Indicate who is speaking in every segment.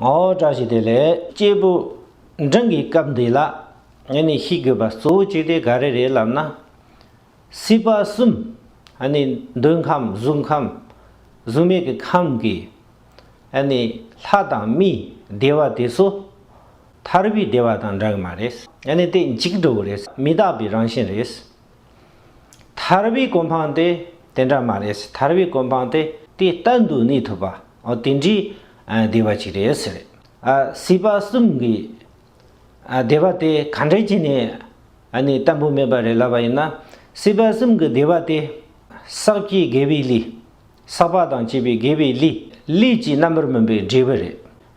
Speaker 1: ངོ་བཀྲ་ཤིས་བདེ་ལེགས། སྐྱེས་བུ། འབྲིང་གི་སྐབས་འདི་ལ། ངས་ནི་ཤེས་དགོས་པ་གཙོ་བོ་གཅིག་དེ་ག་རེ་རེད་ལབ་ན། སྲིད་པ་གསུམ། ཨ་ནི་འདོད་ཁམས་གཟུགས་ཁམས། གཟུགས་མེད་ཀྱི་ཁམས་ཀྱི། ཨ་ནི་ལྷ་དང་མི་བདེ་བ་དེ་ཚོ། ཐར་པའི་བདེ་བ་དང་འདྲ་གི་མ་རེད། ཨ་ནི་དེ་འཇིག་འགྲོ་བ་རེད། མི་རྟག་པའི་རང་བཞིན་རེད། ཐར་བའི་གོ་འཕང་དེ་དེ་འདྲ་མ་རེད་ཟེར་ཐར་བའི་གོ་འཕང་དེ་དེ་ལྟ་འདུག་གནས་ཐུབ་པ་འོ་དེ་འདྲའི་སྡེ་བ་ཅིག་རེད་ཟེར། སྲིད་པ་གསུམ་གྱི་སྡེ་བ་དེ་ག་འདྲའི་ཆེ་ནས་ནས་བལྟ་འབུ་མེད་པ་རེད་ལབ་པ་ཡིན་ན་སྲིད་པ་གསུམ་གྱི་སྡེ་བ་དེ་བསགས་བཅས་དགེ་བའི་ལས་བསགས་པ་དང་བཅས་པའི་དགེ་བའི་ལས་ལས་ཀྱི་རྣམ་པར་སྨིན་པའི་འབྲས་བུ་རེད་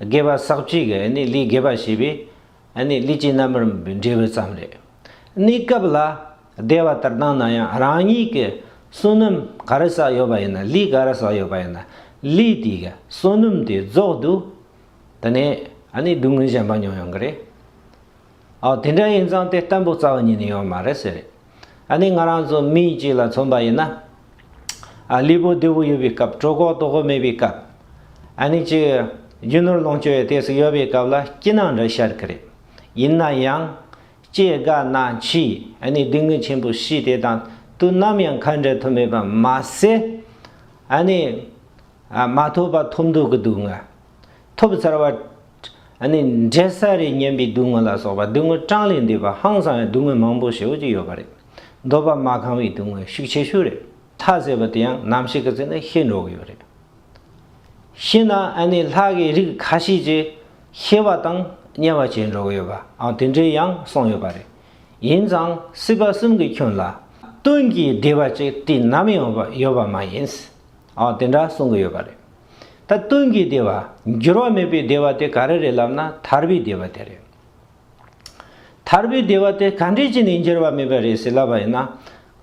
Speaker 1: དགེ་བ་བསགས་བཅས་ཀྱི་ལས་དགེ་བ་བྱས་པའི། ཨ་ནི་ལུས་ཀྱི་རྣམ་རིམ་འབྲས་བུ་ཙམ་རེད། གནས་སྐབས་ལ་བདེ་བ་ལྟར་སྣང་ན་ཡང་རང་ཉིད་ཀྱི་བསོད་ནམས་ག་རེ་བསགས་ཡོད་པ་ཡིན་ན་ལུས་ག་རེ་བསགས་ཡོད་པ་ཡིན་ན་ལུས་དེ་གའི་བསོད་ནམས་དེ་རྫོགས་འདུག་དེ་ནས་ཨ་ནི་སྡུག་བསྔལ་གཞན་པ་མྱོང་ཡོང་གི་རེད། ཨོ་དེ་འདྲ་ཡིན་ཙང་དེ་ལྟ་འབུག་རྩ་བ་ཉིད་ནས་ཡོང་བ་མ་རེད་ཟེར། ཨ་ནི་ང་རང་ཚོ་མི་གཅིག་ལ་མཚོན་པ་ཡིན་ན། ཨ་ལུས་པོ་བདེ་བོ་ཡོད་པའི་སྐབས་གྲོད་ཁོག་ལྟོགས་པོ་མེད་པའི་སྐབས། ཨ་ནི་གཅིག་རྒྱུ་ནོར་ལོངས་སྤྱོད་ཡོད་དུས་སུ་ཡོད་པའི་སྐབས་ལ་སྐྱིད་སྣང་འདྲ་ཤར་གི་རེད། ཡིན་ན་ཡང། སྐྱེ་རྒ་ན་འཆིའི་ཨ་ནི་སྡུག་བསྔལ་ཆེན་པོ་ཤི་དེ་དང་དུ་ནམ་ཡང་ཁ་འབྲལ་ཐུབ་མེད་པ་མ་ཟད། ཨ་ནི། མ་ཐོབ་པ་ཐོབ་འདོད་ཀྱི་སྡུག་བསྔལ། ཐོབ་ཚར་བ། ནི་འབྲས་སཱ་རའི་སྙན་པའི་སྡུག་བསྔལ་ལ་སོགས་པ་སྡུག་བསྔལ་གྲངས་ལས་འདས་པ་ཧང་སང་བའི་སྡུག་བསྔལ་མང་པོ་ཞེ་བོ་ཅིག་ཡོད་པ་རེད། འདོད་པ་མ་གང་བའི་སྡུག་བསྔལ་ཤུགས་ཆེ་ཤོས་རེད་མཐའ་ཟེར་བ་དེ་ཡང་ནམ་ཞིག་གི་ཚེ་ན་ཤེས་འགྲོ་གི་ཡོད་རེད། ཤེས་ན་ནི་ལྷ་དགའི་རིགས་ཁ་ཤས་ཀྱིས་ཤེས་པ་དང་བརྙས་པ་བྱེད་འགྲོ་གི་ཡོད་པའང་དེ་འདྲའི་ཡང་གསུངས་ཡོད་པ་རེད། ཡིན་ཙང་སྲིད་པ་གསུམ་གྱི་ཁྱོན་ལ། སྟོན་གྱི་བདེ་བ་ཅིག་དུས་ནམ་ཡང་ཡོད་པ་མ་ཡིན། དེ་འདྲ་གསུངས་གི་ཡོད་པ་རེད། ད་ལྟུང་གི་བདེ་བ། འགྱུར་བ་མེད་པའི་བདེ་བ་དེ་ག་རེ་རེད་ལབ་ན་ཐར་པའི་བདེ་བ་དེ་རེད། ཐར་པའི་བདེ་བ་དེ་ག་འདྲས་ཀྱི་ནས་འགྱུར་བ་མེད་པ་རེད་ཟེར་ལབ་པ་ཡིན་ན།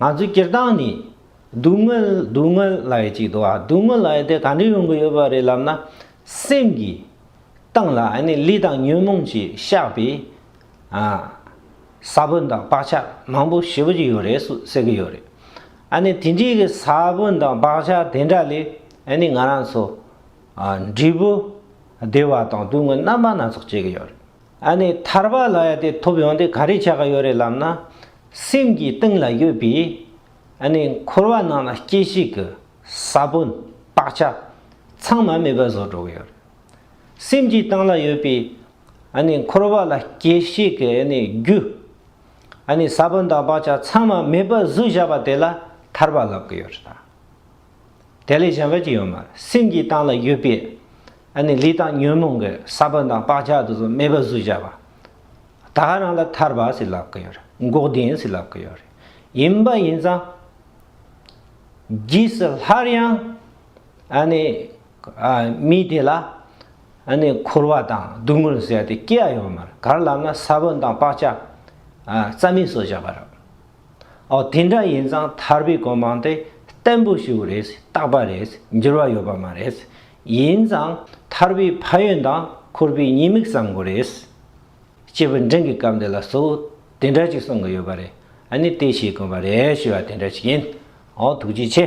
Speaker 1: ང་ཚོའི་སྤྱིར་བཏང་ནས། སྡུག་བསྔལ་སྡུག་བསྔལ་ལ་ཡི་གཅིག་དུའ་སྡུག་བསྔལ་ལ་ཡི་དེ་ག་འདྲས་ཡོང་གི་ཡོད་པ་རེད་ལབ་ན། སེམས་ཀྱི། སྟེང་ལ་ཨ་ནི་ལུས་དང་ཉོན་མོངས་ཀྱིས་བཤགས་པའི། ས་བོན་དང་བག་ཆགས་མང་པོ་ཞིབ་ཀྱི་ཡོད་རེད་ཟེར་གྱི་ཡོད་རེད། ཨ་ནི་དེ་འདྲའི་གི་ས་བོན་དང་བག་ཆགས་དེ་འདྲ་ལས་ཨ་ནི་ང་རང་ཚོ། འབྲས་བུ། བདེ་བ་དང་སྡུག་བསྔལ་རྣམ་པ་སྣ་ཚོགས་སྐྱེ་གི་ཡོད་རེད། ཨ་ནི་ཐར་པ་ལ་ཡ་དེ་ཐོབ་ཡོང་དུས་ག་རེ་བྱ་གི་ཡོད་རེད་ལབ་ན། སེམས་ཀྱི་སྟེང་ལ་ཡོད་པའི། ཨ་ནི་འཁོར་བ་ནང་ལ་སྐྱེ་ཤི་གི་ས་བོན་བག་ཆགས། ཚང་མ་མེད་པ་བཟོ་འགྲོ་གི་ཡོད་རེད། སེམས་ཀྱི་སྟེང་ལ་ཡོད་པའི། ཨ་ནི་འཁོར་བ་ལ་སྐྱེ་ཤི་གི་ཨ་ནི་རྒྱུ། ཨ་ནི་ས་བོན་དང་བག་ཆགས་ཚང་མ་མེད་པར་གཟུགས་བཞག་པ་དེ་ལ་ཐར་པ་ལབ་གི་ཡོད་རེད་ད། དེ་ལས་གཞན་པ་ཅི་ཡོད་མ་རེད་སེམས་ཀྱི་སྟངས་ལ་ཡོད་པའི་ཨ་ནི་ལུས་དང་ཉོན་མོངས་ཀྱི་ས་བོན་དང་བག་ཆགས་དེ་ཚོ་མེད་པར་གཟུགས་བཞག་པ་ད་ག་རང་ལ་ཐར་པ་ཞིག་ལབ་གི་ཡོད་རེད་འགོག་བདེན་ཞིག་ལབ་གི་ཡོད་རེད་ཡིན་པ་ཡིན་ཙང། རྗེས་སུ་སླར་ཡང་ཨ་ནི་མི་དེ་ལ་འཁོར་བ་དང་སྡུག་བསྔལ་ཟད་དེ་སྐྱེ་བ་ཡོང་མེད་གར་ལབ་ན་ས་བོན་དང་བག་ཆགས་རྩ་མེད་སོགས་བཞག་པ་རེད། ཨོ་དེ་འདྲ་ཡིན་ཙང་ཐར་པའི་གོ་མང་དེ་བརྟན་པོ་ཞིག་རེད་བརྟག་པ་རེད་འགྱུར་བ་ཡོད་པ་མ་རེད། ཡིན་ཙང་ཐར་པའི་ཕ་ཡོན་དང་འཁོར་བའི་ཉེས་དམིགས་བསམ་དགོས་རེད། སྐྱེས་བུ་འབྲིང་གི་སྐབས་འདི་ལ་གཙོ་བོ་དེ་འདྲ་ཅིག་གསུང་གི་ཡོད་པ་རེད། དེ་བྱེད་དགོས་པ་རེད་ཞེས་པ་དེ་འདྲ་ཅིག་ཡིན། ཨོ་ཐུགས་རྗེ་ཆེ།